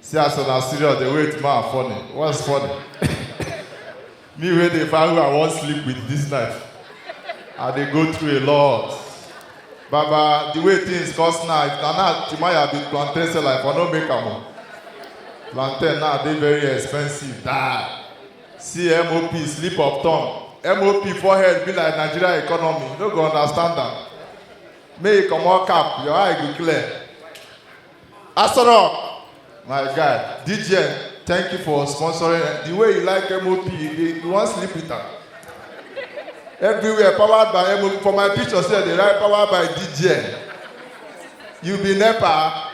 See as una serious dey wait ma funny. What's funny? Me wey dey find who I wan sleep with this night. I dey go through a lot. Baba, the way things cost now, if na now Timaya be plantain seller, I for no make am o. Plantain now dey very expensive die. See MOP slip of tongue. MOP forehead be like Nigeria economy, you no go understand am. Make you comot cap, your eye go clear. Asoro, my guy, DJ, thank you for sponsoring. The way you like MOP, you, dey- you wan sleep with am. Everywhere powered by MOP. For my picture sef, dey write powered by DJ. You be NEPA.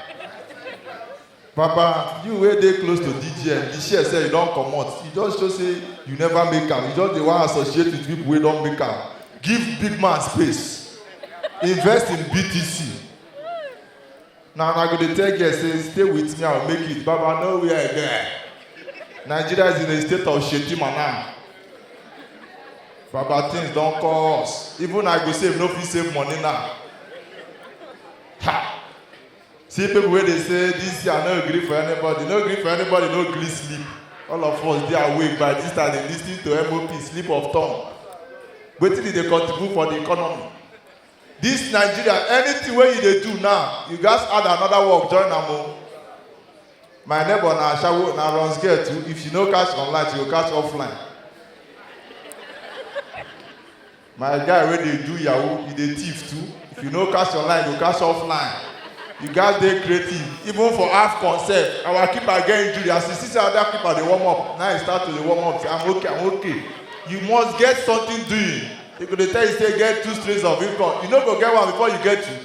Papa, you wey dey close to DJ, the share sef you don comot. You just show say you never make am. You just dey wan associate with people wey don make am. Give big man space. Invest in BTC. na una go dey tell girl say stay with me i go make it baba no where i get nigeria is in a state of shedima now baba things don cost even i go save no fit save money now ha see people wey dey say this year no gree for anybody no gree for anybody no gree sleep all of us dey awake by this time dey lis ten to mop sleep of tongue wetin e dey contribute for the economy This Nigeria, anything wey you dey do now, you gats add another work join am o. My neighbor na ashawo, na runs girl too, if she no catch online, she go catch offline. My guy wey dey do yahoo, he dey thief too, if you no catch online, you go catch offline. You gats dey creative, even for AFCON sef, our keeper get injury, as he see say other keeper dey warm up, na he start to dey warm up, say I'm okay, I'm okay. You must get something doing. They go dey tell you say get two streams of income. You no go get one before you get two.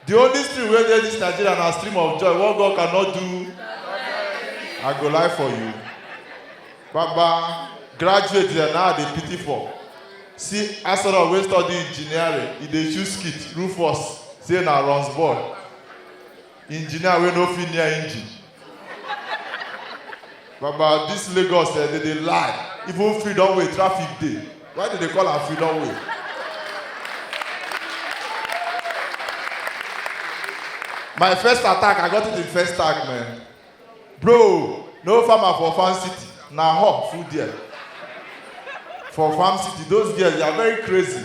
The only stream wey dey this Nigeria na stream of joy. What God cannot do, I go lie for you. Baba, graduate dem now I dey pity for. See Asoro wey study engineering, e dey choose skit, Rufus, say na runs boy. engineer wey no fit near engine baba this lagos eh dey dey lie even freedom way traffic dey why dey dey call am freedom way my first attack i got it in first tag man bro no farmer for farm city na hawk full there for farm city those girls they are very crazy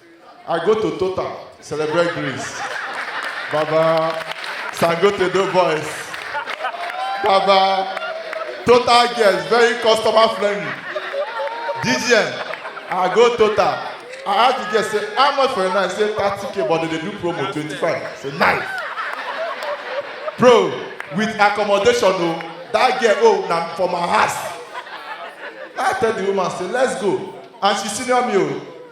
I go to Total, celebrate Greece. Baba, Sangote do boys. Baba, Total girls, very customer friendly. DGN, I go Total. I ask the girl, say, how much for a night? Say, 30k, but they dey do promo, 25. Say, nice. Bro, with accommodation, oh, that girl, oh, na for my house. I tell the woman, say, let's go. And she senior me, oh.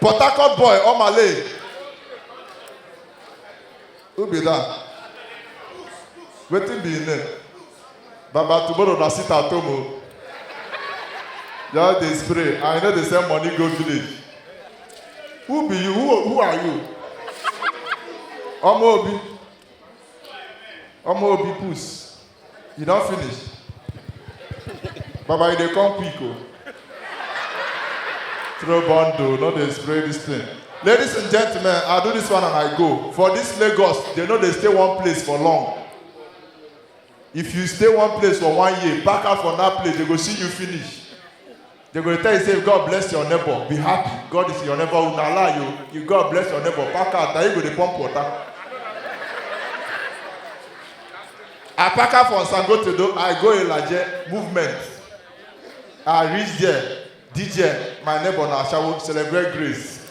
Port Harcourt boy, Omale. Who be that? Wetin be him name? Baba tomorrow na sit at home o. Just dey spray and you no dey send money go village. Who be you? Who, who are you? Ọmọ Obi. Ọmọ Obi puss. You don finish? Baba, you dey come quick o. Throw bundle, no dey spray this thing. Ladies and gentlemen, I do this one and I go. For this Lagos, they no dey stay one place for long. If you stay one place for one year, pack out from that place, they go see you finish. They go tell you say God bless your neighbor, be happy. God is your neighbor. Una lie you. You God bless your neighbor. Pack out. Now you go dey pump water. I pack out from Sangotodo. I go Ilaje movement. I reach there. DJ, my neighbor na Ashawo celebrate grace.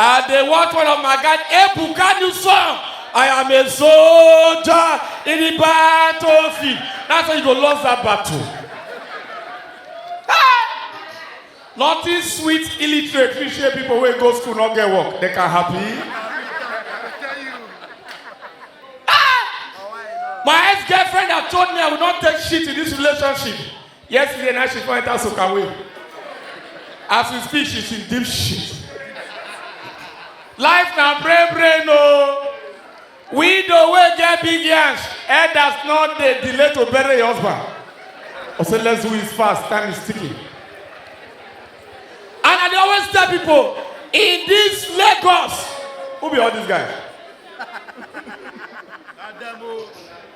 I dey watch one of my guys, Ebuka new song. I am a soldier in the battlefield. That's how you go lose that battle. Nothing sweet illiterate we share people wey go school no get work they can happy. My ex-girlfriend had told me I will not take shit in this relationship. Yesterday night she come enter Sokaway. As we speak, she's in deep shit. Life na brain brain o. Widow wey get big yansh, elders no dey delay to bury your husband. I say let's do it fast, time is ticking. And I dey always tell people, in this Lagos, who be all these guys?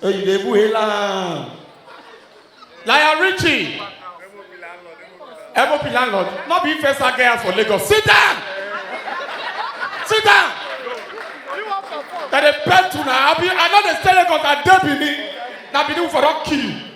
Hey, you dey buhe land. Lion Richie. MOP landlord. No be first I get house for Lagos. Sit down. Sit down. That they pet to now. I be I know they stay Lagos. I dey Benin. Now Benin for don kill you.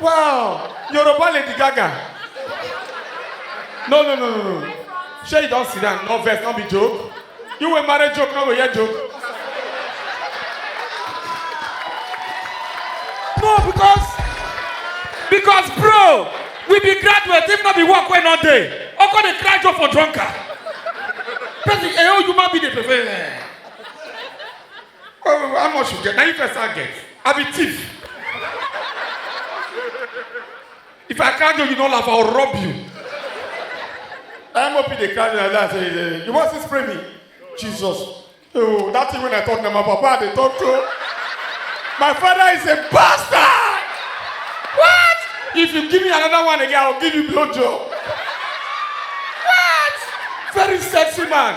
Wow! Yoruba Lady Gaga. No, no, no, no, no. Sure, you don't sit down. No verse, no be joke. You were married joke, no go hear joke. No, because because bro, we be graduate if not be work when not day. How come they cry joke for drunker? Person, eh, oh, you might be the prefer. oh how much you get na you first i get i be thief if i catch you you no laugh i will rob you mop dey carry like that say eh, you wan still spray me jesus oh that thing wey i talk na my papa i dey talk to my father is a bastard what if you give me another one again i will give you blow job what very sexy man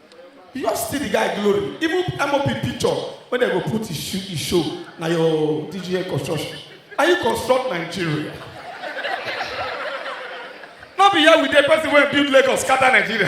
you just steal the guy glory even mop picture wey dem go put his show his show na your dj construction and you construct nigeria no be here we dey person wey build lagos scatter nigeria.